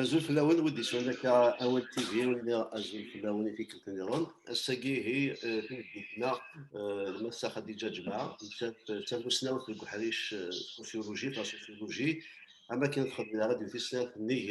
Azul fell-awen wid yeswan akka awal TV wala azul fell-awen i tikkelt niḍen ass-agi ihi eh, timeddit-na eh, Massa Khadija Ǧemɛa nettat eh, d tamussnawt deg uḥric sociologie la sociologie am akken txeddem ara d tisnaf nnig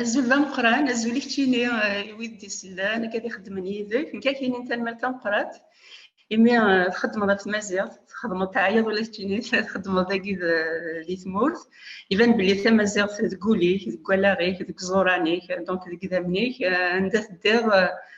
Azul d ameqran, azul i keččini i wid d-isellan, akka di xeddmen yid-k, nekk ak inin tanmalt tameqrat, imi eh, txeddmeḍ ɣef tmaziɣt, txeddmeḍ teɛyiḍ ula keččini txeddmeḍ dagi di tmurt, iban belli tamaziɣt deg ul-ik, deg wallaɣ-ik, deg ẓuran-ik, donc deg idammen-ik, eh, anda teddiḍ eh,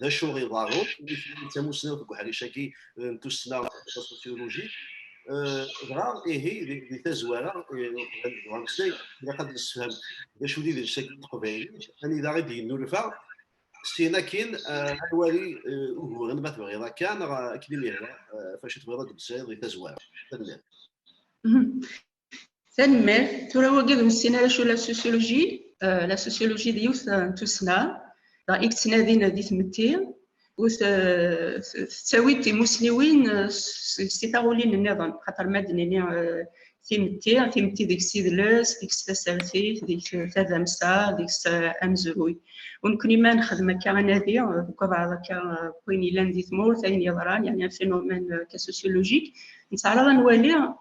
d acu iḍarru d tamussnawt deg uḥric-agi n tussna sosyologique dɣa ihi di tazwara deg umeslay ilaq ad nessefhem d acu d idles-agi n teqbaylit anida i d-yennulfa sin akin ad wali uguren ma tebɣiḍ akka neɣ akken i m-yehwa facu tebɣiḍ ad d-tesɛiḍ di tazwara. Tanemmirt. Tanemmirt. Tura wagi d nessin ara acu la sociologie. Euh, la sociologie d yiwet euh, n tussna i yettnadin di tmetti ur tettawi timussniwin si taɣulin nniḍen xaṭer ma d-nini timetti timetti deg-s idles deg-s tasertit deg-s tadamsa deg-s amezruy u nekkni ma nexdem akka anadi deg abaɛḍ akka wayen yellan di tmurt ayen yeḍran yani un phénomène cas sociologique nettɛaraḍ ad nwali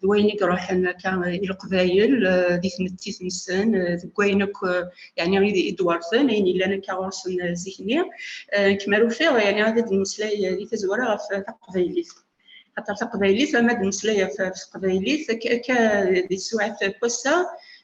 d wayen i iruḥen akka i leqbayel di tmetti-nsen deg wayen akk yani i d-werten ayen yellan akka ɣur-sen zik-nni kem ar ufiɣ yani ad d-nmeslay di tazwara ɣef taqbaylit xaṭer taqbaylit ama d-nmeslay ɣef teqbaylit akka di tsuɛat n wass-a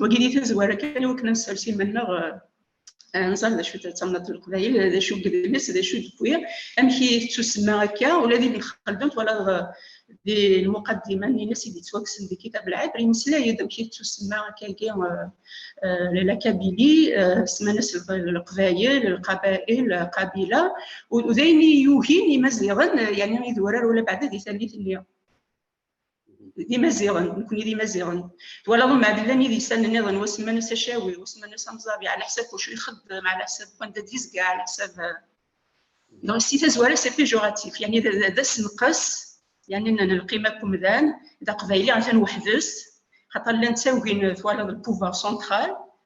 wagi di tazwara kan i wakken ad nsers iman-nneɣ nẓer d acu tamnaḍt n leqbayel d acu gedles d acu d-wwi amek i tettusemma akka ula d ibn xaldun twalaḍ di lmuqaddima n ines i d-yettwakksen di kitab lɛibr yemmeslay-d amek i tettusemma akkagi lakabili semman-as leqbayel lqabail qabila u d ayen i yugin imaziɣen yani idurar ula baɛda di tallit-nni d imaziɣen nekkni d imaziɣen twalaḍ mɛad llan idistan nniḍen wasemman as acawi wasemman as amẓabi ɛla ḥsab wacu ixeddem ɛla ḥsab wanda d-yezga ɛla ḥsab neɣ si tazwara c'est péjoratif yani d asenqes yani n lqima n umdan d aqbayli atan weḥd-s xaṭer llan ttawgin twalaḍ le pouvoir central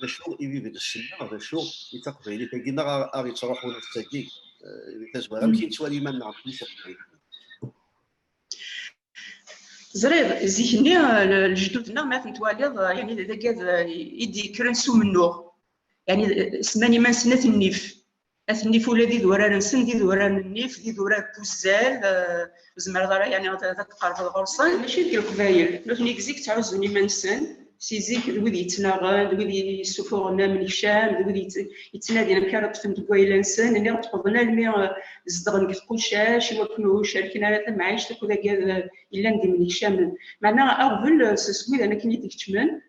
d acu i d idles-nneɣ, d acu i taqbaylit-agi, neɣ ar yettruḥun ass-agi, di tazwara, amek i nettwali iman-nneɣ nekkni s iqbayliyen? Ẓriɣ, zik-nni lejdud-nneɣ ma ten-twaliḍ, yani d agad i d-yekkren s umennuɣ, yani sman iman-nsen At Nnif. At nnif ula d idurar-nsen d idurar n nnif, d idurar n wuzzal, ur zemreḍ ara yani ad tqerbeḍ ɣur-sen. Mačči deg leqbayel, nutni deg zik ttɛuzzun iman-nsen, si zik d wid yettnaɣen, d wid yessufuɣen amnekcam, d wid yettnadin amek ara ṭṭfen deg wayla-nsen, nniɣ ṭṭfeḍen almi zedɣen deg tqucac i wakken ur cerken ara tamɛict akked agad yellan d imnekcamen. Meɛna aɣbel s wid anakken i d-ikeččmen,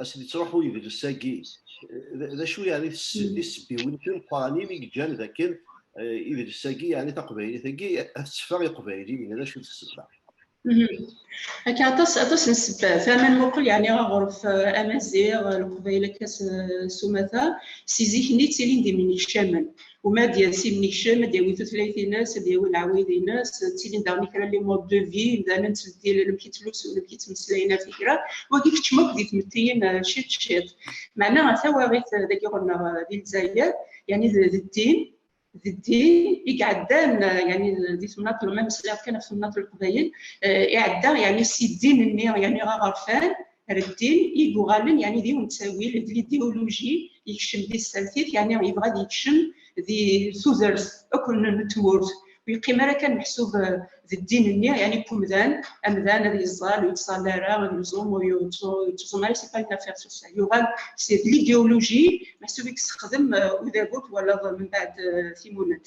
asen yettruḥu yedles-agi. D acu yeɛni tisebbiwin timeqqranin i yeǧǧan d akken idles-agi yeɛni taqbaylit-agi ad tetteffeɣ iqbayliyen, d acu tessebba? Akka aṭas aṭas n sebbat, ama nmuqel yeɛni aɣref amaziɣ, leqbayel akka s umata, si zik-nni ttilin d imnekcamen. وما ad yers imnekcem, ad yawi tutlayt-ines, ad yawi lɛawayed-ines, ttilin daɣen kra li mode de vie, imdanen ttbeddilen amek i ttlusun, amek i ttmeslayen ar tikra, wagi keččem akk di tmettiyin ciṭ ciṭ. Meɛna tawaɣit dagi ɣur-neɣ di Lezzayer, yani d ddin, d ddin i iɛeddan yani di temnaḍt, ma meslayeɣ kan ɣef temnaḍt n Leqbayel, iɛedda yani si ddin-nni yani aɣerfan, reddin i yuɣalen yani d yiwen n ttawil d l'idéologie yekcem di tsertit yani yebɣa ad yekcem di tudert akk n tmurt ur yeqqim ara kan meḥsub d ddin-nni yani n umdan amdan ad yeẓẓal ur yettẓalla ara ad yeẓum ur yettẓum ara c'est pas une affaire sur ça yuɣal c'est de l'idéologie meḥsub i yessexdem udabu twalaḍ mebɛed timunent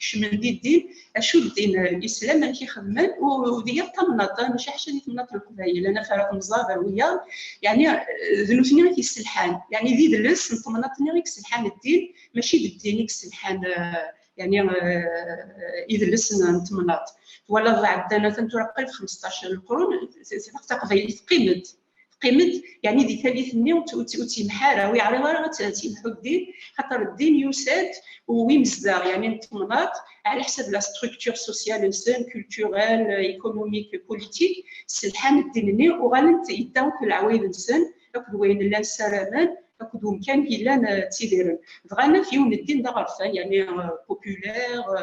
kecmen di ddin acu ddin islam amek i xedmen udi yal tamnaḍt maca ḥaca di temnaḍt n leqbayel ana fara temẓad ar wiyaḍ yani d nutni i t-yesselḥan yani d idles n temnaḍt-nni i yesselḥan ddin mačči d ddin i yesselḥan يعني idles n temnaḍt twalaḍ ɛeddan atan tura qrib 15 lqrun taqbaylit qimet teqqim-d yani di tallit-nni ur tt-yemḥa ara, ur yeɛriḍ ara ad tt-yemḥu ddin, xaṭer ddin yusa-d u imezdaɣ yani n temnaḍt ɛla ḥsab la structure sociale-nsen, culturelle, économique, politique, sselḥan ddin-nni, uɣalen-d yedda akked leɛwayed-nsen, akked wayen llan ssaramen, akked umkan i yellan ttidiren. Bɣan akk yiwen ddin d aɣerfan yani populaire,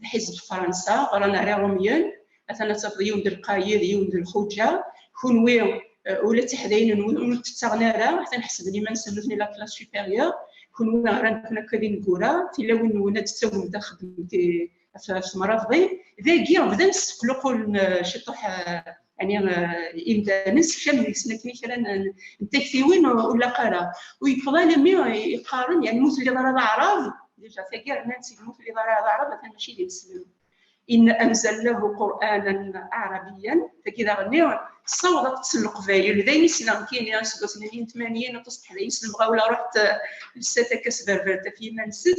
d ḥizeb Fransa, ɣran ar Iṛumyen, atan ad tafeḍ yiwen d lqayed, yiwen d lxuǧa, kunwi ula d tiḥdayin-nwen ur d-ttaɣen ara, atan ḥesben iman-nsen nutni la classe supérieure, kunwi ɣran-ken akka d ineggura, tilawin-nwen ad d-tawim taxedmemt ɣef temraḍḍin, dagi bdan sseqluqulen ciṭuḥ يعني imdanes kcam deg-sen akken kra n taktiwin ur laq ara u yeffeḍ alami yeqqaren yani mu telliḍ ara d aɛrab déjà tagi rnan-tt mu telliḍ ara d aɛrab atan mačči d imeslem in anzalnahu qur'anan arabiyan tagi d aɣenni tessaweḍ ad tessen leqbayel d ayen i sneɣ kini aseggas-nni n 80 aṭas n teḥdayin s lemɣawla ruḥet lsat akka s berber taf yiman-nsen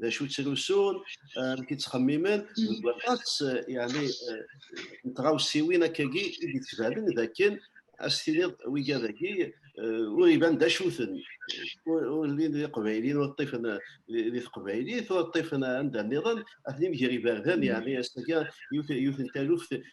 d acu ttrusun amek i ttxemmimen deg waṭas yani n tɣawsiwin akkagi i d-ittbanen d akken ad s-tiniḍ wiga dagi ur iban d acu-ten ur llin d iqbayliyen ur ṭṭifen di teqbaylit ur ṭṭifen anda nniḍen atni mger iberdan yani ass-agi yiwet n taluft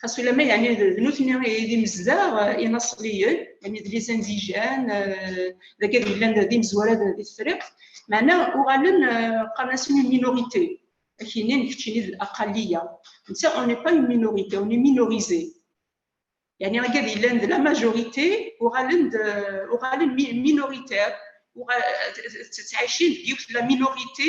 xas ulamma yani d nutni ay d imezdaɣ inaṣliyen yani d lizanzijan dagi ad yellan d imezwara di tefriqt meɛna uɣalen qqaren-asen une minorité akini n keččini d aqalliya netta on n'est pas une minorité on est minorisé yani agi ad yellan d la majorité uɣalen d uɣalen minoritaire tettɛicin deg yiwet la minorité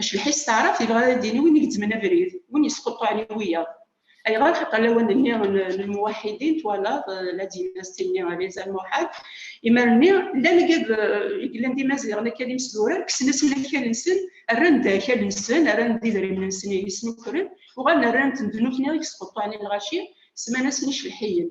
Acbeḥ-is s taɛrabt yebɣa ad d-yini win i gezzmen abrid, win yesquṭṭuɛen i wiyaḍ. Ayɣer? Xaṭer lawan-nni n lmuwaḥidin, twalaḍ, la d-yenna s timmi Riz Al Muḥad, imal-nni llan i yellan d imaziɣen akka d imesdurar, kksen-asen akal-nsen, rran-d akal-nsen, rran-d idrimen-nsen i yisnukren, uɣalen rran-ten d nutni i yesquṭṭuɛen i lɣaci, semman-asen icebḥiyen.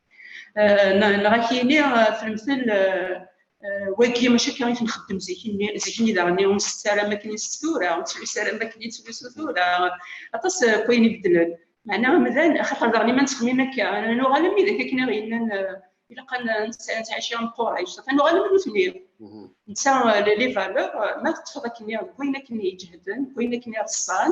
neɣ ak yini fremtel wagi maca akka i ten-xeddem zik-nni zik-nni daɣen ur nsettu ara am akken i nsettu tura ur nettlusu ara am akken i nettlusu tura aṭas n wayen ibeddlen meɛna amdan axaṭer daɣen iman ttxemmim akka nuɣal am widak akken i ɣ-yennan ilaq ad nettɛici am Qurayc safa nuɣal am nutni netta les valeurs ma teṭṭfeḍ akken deg wayen akken i iǧehden deg wayen akken i ḍsan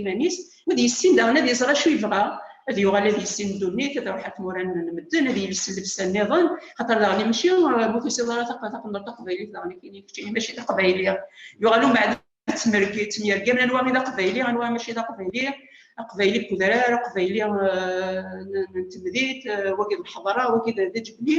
iman-is, ma d yessin daɣen ad iẓer acu yebɣa, ad yuɣal ad yessin ddunit, ad iruḥ ar tmura n medden, ad yels llebsa nniḍen, xaṭer daɣen mačči bu tusiḍ ara taqendurt taqbaylit daɣen akken i keččini mačči d aqbayli, yuɣal umbeɛd ttemyergamen anwa i d aqbayli, anwa mačči d aqbayli, aqbayli n udrar, aqbayli n temdint, wagi d lḥeḍra, wagi d ǧebli.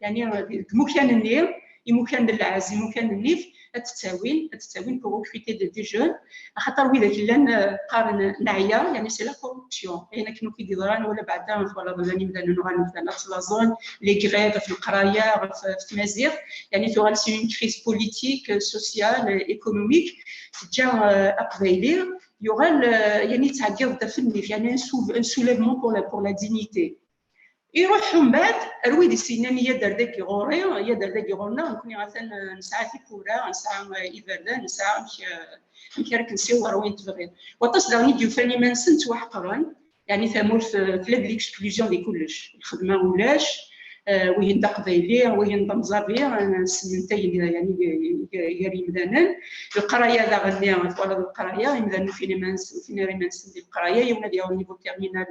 يعني المكان-nni imukan d lɛezz imukan d nnif ad t-ttawin ad t-ttawin pour recruter des des jeunes axaṭer widak llan qqaren neɛya yani c'est la corruption ayen akken akk i d-yeḍran wala beɛda twalaḍ llan imdanen uɣal medden ad ttlaẓen les grèves ɣef leqraya ɣef tmaziɣt yani tuɣal c'est une crise politique sociale économique teǧǧa aqbayli yuɣal yani yettɛeggiḍ-d af nnif yani un soulèvement pour la pour la dignité Iruḥ ḥumbad, ar wid i s-yennan i yader dagi ɣur-i, i yader dagi ɣur-neɣ, nekkni atan nesɛa tiwwura, nesɛa iberdan, nesɛa amek amek ara k-nsiweḍ ar wayen tebɣiḍ. Waṭas daɣen i d-yufan iman-nsen ttwaḥeqren, yani tamurt tella d l'exclusion di kullec, lxedma ulac, wihin d aqbayli, wihin d amẓabi, semmentayen yani gar yimdanen, leqraya daɣen-nni twalaḍ leqraya, imdanen ur ufin iman-nsen, ur ufin ara iman-nsen di leqraya, yiwen ad yaweḍ niveau terminal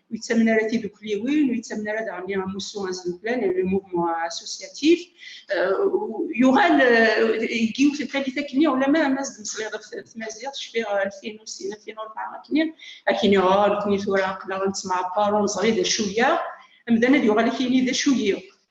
ur yettamen ara tidukliwin, ur yettamen ara daɣenni amussu asduklan, le mouvement associatif. Yuɣal deg yiwet n tallit akkenni, ulama ama s-d-mesliɣ ɣef tmaziɣt, cfiɣ alfin u sin, alfin u rebɛa akkenni, akkenni ɣa nekni tura aqlaɣ nettemɛaṭar ur neẓri d acu-yaɣ, amdan ad yuɣal akkenni d acu-yiɣ.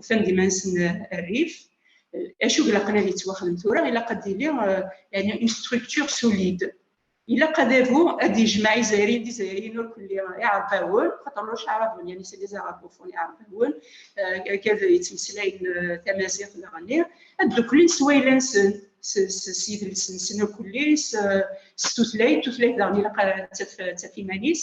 ufan iman-nsen rrif acu ilaqen ad yettwaxdem tura ilaq ad yili yani une structure solide ilaq adabu ad yejmeɛ izayriyen d izayriyen ur kelli iɛerqawen xaṭer ur ceɛraben yani c'est des arabes au fond iɛerqawen kad yettmeslayen tamaziɣt daɣenni ad ddukklen s wayla-nsen s yidles-nsen ur kelli s tutlayt tutlayt daɣen ilaq ad taf iman-is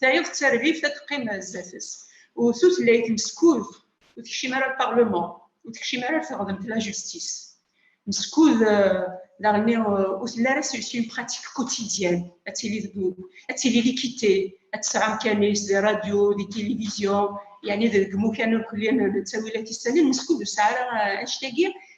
tayeḍ d tarbibt ad teqqim sdat-s u tutlayt meskud ur tekcim ara lparleman ur tekcim ara ar teɣdemt la justis meskud daɣenni ur telli ara sur une pratique quotidienne ad tili deg ad tili likité ad tesɛu amkan-is di radio di télévision yani deg imukan ur kelli nettawi la tissalin meskud ur tesɛi ara anect-agi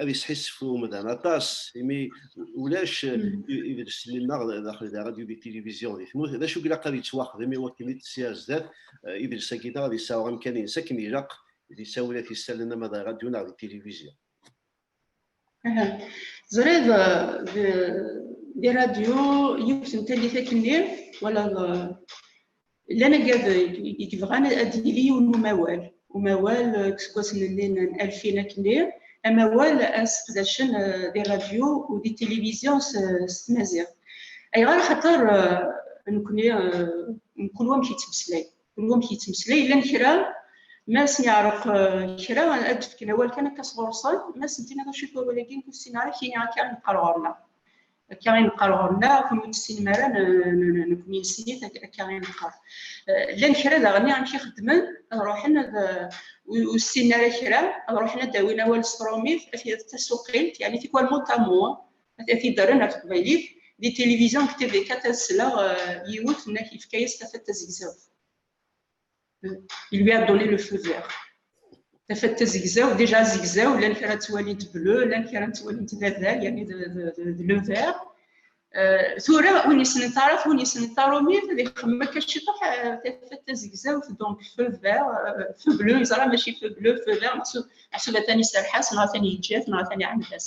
ad yesḥissef umdan aṭas imi ulac idles-nneɣ daxel d radio d tilivizyu di tmurt d acu ilaq ad yettwaxdem iwakken i tt-ssiɣ ar zdat idles-agi-nneɣ ad yesɛu amkan-nnes akken ilaq di tawla tisalen ama d radio neɣ di tilivizyu. Teẓriḍ di radio yiwet n tallit akken-nni walaḍ llan agaden i yebɣan ad d-yili yiwen umawal umawal eh, deg iseggasen-nni n alfin akkenni amawal ad seqdacen eh, di rradyu u di tilivizyu s tmaziɣt ayɣer xaṭer eh, nekkni mkul wamek yettmeslay kul wamek yettmeslay llan kra ma sen-yeɛreq kra ad d-fken awal kan akka sɣur-sen ma sen-tiniḍ acu-t wawal-agi nekk ur ssineɣ ara kini akka neqqar ɣur-neɣ akka i neqqar ɣur-neɣ kun ur tessinem ara nekni nessin-it akka i neqqar llan kra daɣen amek i xeddmen ad ruḥen ad ur ssinen ara kra ad ruḥen ad d-awin awal s trumit ad t-id tasuqilt yani tikwal mutamu ad t-id-rren ar teqbaylit di tilivizyon deg tvk ad sleɣ yiwet nnak yefka-yas tafat tazegzawt il lui a donné le feu vert. Tafat tazegzaw, déjà zegzaw, llan kra ttwalint bleu, llan kra ttwalint d adal, yani de le vert. Euh, tura win yessnen taɛrabt win yessnen tarumit ad ixemmem akka ciṭuḥ euh, tafat tazegzawt donc feu vert euh, feu bleu yeẓra maci feu bleu feu vert meḥsub atan iserreḥ-as neɣ atan yeǧǧa-t neɣ atan iɛaned-as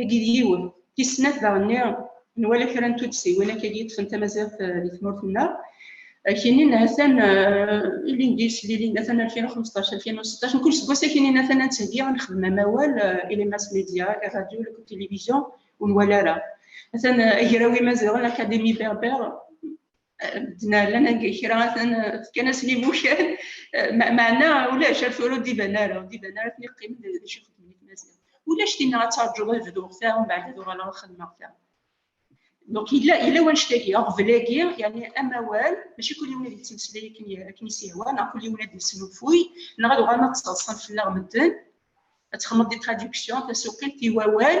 Agi d yiwen. Tis snat daɣenni nwala kra n tuddsiwin akka d-yeṭṭfen tamaziɣt eh, di tmurt-nneɣ. Akinin eh, atan eh, ilindi slilin, atan 2015, 2016, mkul seg wass akinin atan ad ntheggi, ad nexdem amawal i les mass média, les radios, les télévisions, ur nwala ara. Atan agraw imaziɣen, l'Académie berbère, d-nerran anga kra fkan-asen imukan meɛna ulac ar tura ur d-iban ara ur d-iban ara akken iqqimen d acu xedmen imaziɣ ulac tinna ad tarǧuḍ ad bduɣ ta mbeɛd ad uɣaleɣ ad xedmeɣ ta donc yella yella wanect-agi aɣbel-agi yani amawal maci kul yiwen ad yettmeslay akken akken is-ihwa neɣ kul yiwen ad yesnulfuy neɣ ad uɣalen ad ttaḍsan fell-aɣ medden ad texmeḍ di traduction tasuqilt i wawal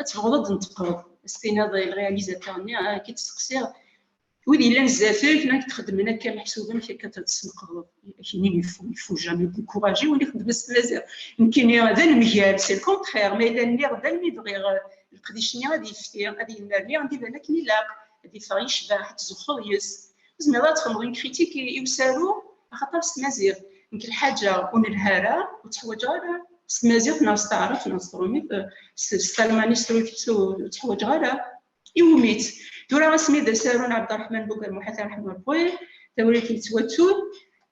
ad tebɣeḍ ad d-nteqqreḍ ad s-tiniḍ i lrealizateur-nni ad ah, k-id-steqsiɣ wid yellan zdat-k la k-txeddmen akka meḥsub amek akka tesneqdeḍ akini ifu jami kuraji win ixeddmen s tmaziɣt nekkini d anemgal si lkontxir ma yella nniɣ d almi bɣiɣ leqdic-nni ad yefti ad yennerni ad iban akken ilaq ad yeffeɣ yecbeḥ ad tzuxxeḍ yes-s Tezmireḍ ad txedmeḍ une critique i i usaru axaṭer s tmaziɣt nekk lḥaǧa ur nelha ara ur tteḥwaǧeɣ ara s tmaziɣt neɣ s taɛrabt neɣ s tṛumit s s talmanit s trusit ur tteḥwaǧeɣ ara iwumi-tt tura asmi d asaru n Abderrahmane Bougarmouha Tarahmatoui tawrirt yettwattun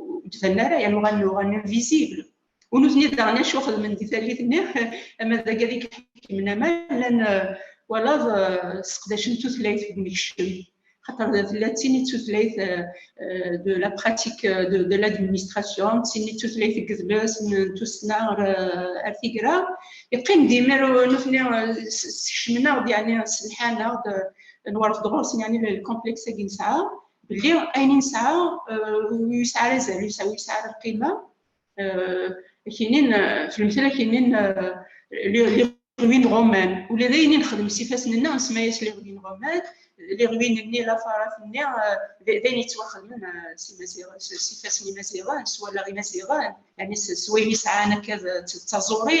ur d-tella ara yan uɣalen uɣalen invisible ur nutni daɣen acu xedmen di tallit-nni ama d agad i iḥekmen ama llan walaḍ seqdacen tutlayt deg umekcem xaṭer tella d tin i tutlayt de la pratique de, de l'administration d tin i tutlayt n yedles n tussna ar, ar tigra yeqqim dimir nutni sekcmen-aɣ-d yani sselḥan-aɣ-d nwerfed ɣur-sen yani lkomplex-agi nesɛa belli ayen i nesɛa ur yesɛi ara azal ur yesɛi ara lqima akinin fi lemtel akinin liɣwi n ɣuman ula d ayen i nexdem s ifassen-nneɣ nsemma-yas liɣwi n ɣuman liɣwin-nni lafarat-nni d ayen yettwaxedmen s imaziɣen s ifassen imaziɣen s wallaɣ imaziɣen yani s wayen i sɛan akka d taẓuri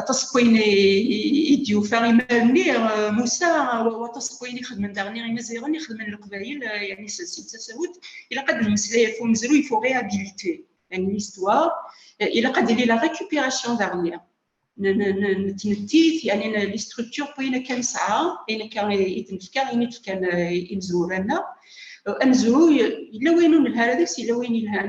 aṭas n wayen i d-yufa imar-nni Musa waṭas n wayen i xedmen daɣen imaziɣen i xedmen leqbayel yani si tasawut ilaq ad nemmeslay ɣef umezruy faut réhabiliter yani l'histoire ilaq ad yili la récupération daɣen nettmettit yani li structure wayen akka nesɛa ayen akka i d-nefka ayen i d-fkan imezwura-nneɣ amezruy yella wayen ur nelha ara deg-s yella wayen yelhan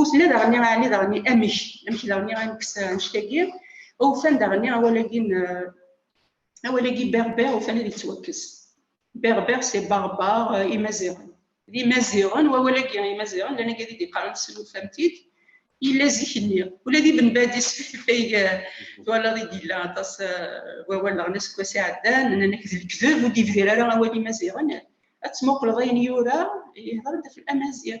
Utla daɣenni ɛni daɣenni amek amek daɣenni anekkes annect-agi awfan daɣenni awal-agi n awal-agi berber ufan ad yettwakkes berber c'est barbar imaziɣen d imaziɣen wawal-agi imaziɣen llan agi ad d-iqaren s lufamtit yella zik-nni ula d Ibn Badis fay twalaḍ i d-yella aṭas wawal daɣen aseggas iɛeddan nnan-ak d lekdeb ur d-yebdir ara awal imaziɣen ad tmuqleḍ ayen yura yehder-d ɣef amaziɣ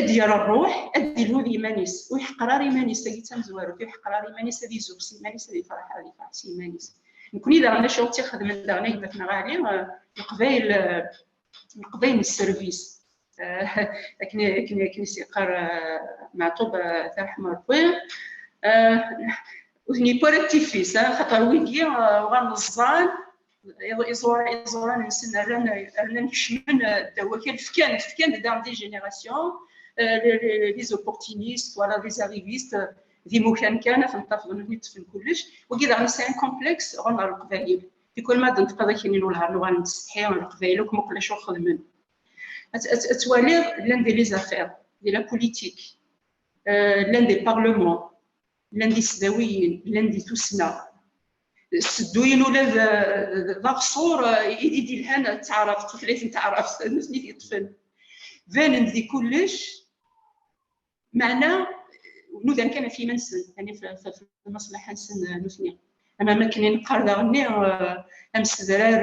ad yer rruḥ ad ilhud iman-is ur yeḥqer ara iman-is tagi d tamezwarut ur yeḥqer ara iman-is ad izug s iman-is ad ifreḥ ad ifreḥ s iman-is nekni daɣen acu tt ixedmen daɣen ayemmatneɣ ali leqbayel leqbayel n sservis akken akken akken isiqar maɛtub tarḥma rebbi ur ten-yewwi ara d tifis xaṭer wigi uɣalen ẓẓan iẓuran iẓuran-nsen rran rnan kecmen ddaw wakal fkan fkan dans des générations les opportunistes voilà les arrivistes d imukan kan ad ten-tafḍen ad ten-ṭfen kullec wagi daɣen yesɛan complex ɣen ɣer leqbayel tikwal ma d-neṭqeḍ akin inu lhar luɣa nettsetḥi ɣer leqbayel akk muqel acu xedmen ad twaliḍ llan di les affaires di la politique llan di parlement llan di sdawiyin llan di tussna sedduyen ula d d aɣṣur i d-ilhan d taɛrabt tutlayt n taɛrabt d nutni t-yeṭṭfen banen-d di kullec meɛna nudan kan ɣef yiman-nsen yani f lmaslaḥa-nsen nutni ama makken i neqqar daɣenni amsedrar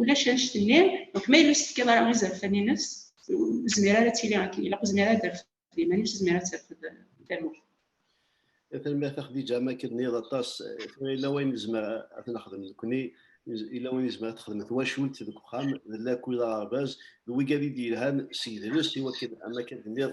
ulac annect-nni donc ma yella ur s-tefkiḍ ara izerfan-nnes ur zmir ara ad tili akken ilaq ur zmir ara ad terfed iman-nnes ur zmir ara ad terfed tamurt tanemmirt a Xdija ma k-nniḍ aṭas tura yella wayen nezmer ad nexdem nekkni yella wayen nezmer ad texdem twacult deg uxxam d lakul aɣerbaz d wigad i d-yelhan s yedles i wakken am akka d-nniḍ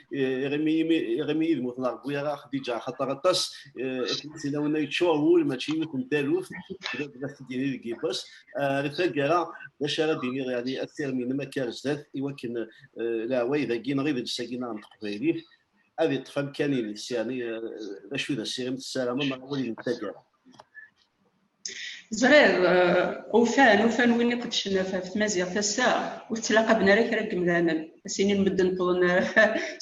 iɣimi iɣimi yid-m ur tneṛwwi ara Xdija axaṭer aṭas akken tilawen ay ččuṛ wul mačči yiwet n taluft d as d-yini deg yibbas di taggara d acu ara d-iniɣ yani asirem-inem akka ar zdat i wakken leɛway dagi neɣ idles-agi neɣ n teqbaylit ad iṭṭef amkan-ines yani d acu d asirem tessarameḍ neɣ awal-inem d taggara Ẓriɣ, ufan, ufan win iqedcen ɣef ɣef tmaziɣt ass-a, ur tettlaqaben ara kra n yemdanen, ad s-inin medden wwḍen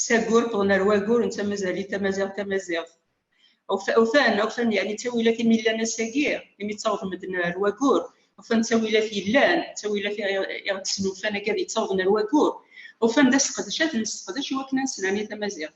s aggur, wwḍen ar waggur, netta mazal-it tamaziɣt, tamaziɣt. Ufan, ufan yeɛni d tawilat imi llan ass-agi, imi ttawḍen medden ar waggur, ufan d tawilat yellan, d tawilat iɣ d-snulfan agi ad yettawḍen ar waggur, ufan d aseqdec ad nesseqdec i wakken ad nesnerni tamaziɣt.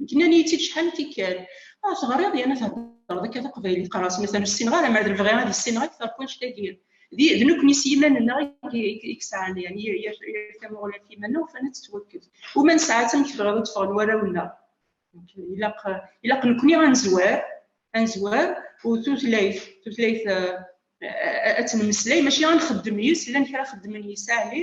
Nekk nnan-iyi-tt-id cḥal n tikkal. Ah, teɣriḍ yerna theddreḍ akka taqbaylit. Qqareɣ-as mazal ur ssineɣ ara, mer d bɣiɣ ad issineɣ akteṛ n wanect-agi. D nekkni s yiman-nneɣ i yesɛan yani yir tamuɣli ɣef yiman-nneɣ ufan ad tettwakkes. Uma nesɛa-tt amek tebɣiḍ ad d-ffɣen warraw-nneɣ. Ilaq, ilaq nekkni ad nezwar, ad nezwar u tutlayt, tutlayt ad temmeslay mačči ad nxeddem yis, llan kra xeddmen yis ɛli,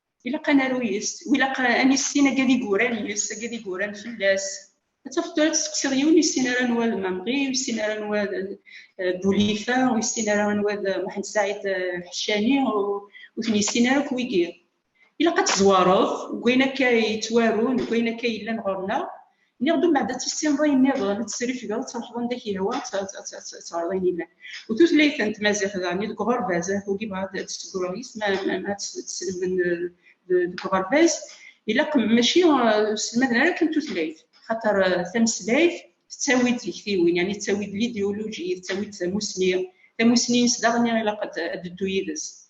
ilaq ad naru yes-s, ilaq ad nissin akka d igurran yes-s, akka d igurran fell-as. Ad tafeḍ tura testeqsiḍ yiwen yessin ara anwa d Mamri, yessin ara anwa d eh, Boulifa, ur yessin ara anwa d Mohamed Saïd eh, Hachani, ur ten-yessin ara akk wigi. Ilaq ad tezwareḍ deg wayen akka yettwarun, deg wayen akka yellan ɣur-neɣ, Niɣ d umbeɛd ad tissineḍ ayen niḍen, ad tesrifgeḍ, ad truḥeḍ anda k-yehwa, ad teɣreḍ ayen ilan. U tutlayt n tmaziɣt daɣen, deg uɣerbaz, ad tugi bɣa ad tesseggreḍ yis, ma ad teslemden deg uɣerbaz, ilaq mačči selmaden ara kan tutlayt, xaṭer tameslayt tettawi-d tiktiwin, yani tettawi-d l'idéologie, tettawi-d tamusni, tamusni-ines daɣen ilaq ad d-teddu yid-s.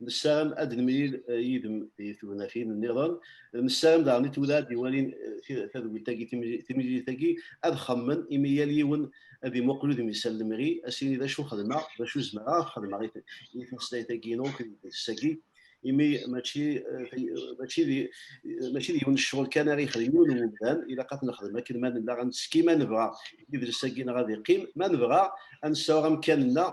nessaram ad nemlil eh, yid-m di tugnatin nniḍen nessaram daɣen i tulad iwalin eh, tadwilt-agi timlilit-agi ad xemmen imi yal yiwen ad imuqel udem yessal lemri asini d acu xedmeɣ d acu zemreɣ ad xedmeɣ i tmeslayt-agi inu s-agi imi mačči eh, mačči di mačči di yiwen ccɣel kan ara yexdem yiwen n umdan ilaq ad nexdem akken ma nella ad neski ma nebɣa idles-agi neɣ ad iqqim ma nebɣa ad nessaweɣ amkan-nneɣ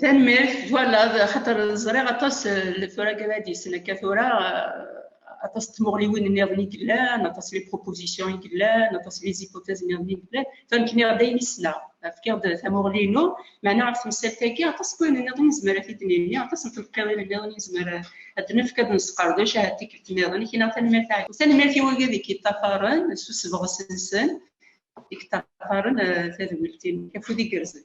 tanemmirt twalaḍ xaṭer ẓriɣ aṭas le tura gradis akka tura aṭas n tmuɣliwin niḍen i yellan aṭas les propositions i yellan aṭas les hypothèses niḍen i yellan famekniɣ-d ayen i ssneɣ fkiɣ-d tamuɣli-inu meɛna ɣef temsalt-agi aṭas n wayen niḍen nezmer ad t-id-nini aṭas n telqiḍin niḍen nezmer ad nefk ad nesqerdec ahat tikkelt niḍen kina tanemmirt tanemmirt i wagi deg yeṭṭafaren s usebɣes-nsen i yeṭṭafaren tadwilt-nnek afud igerrzen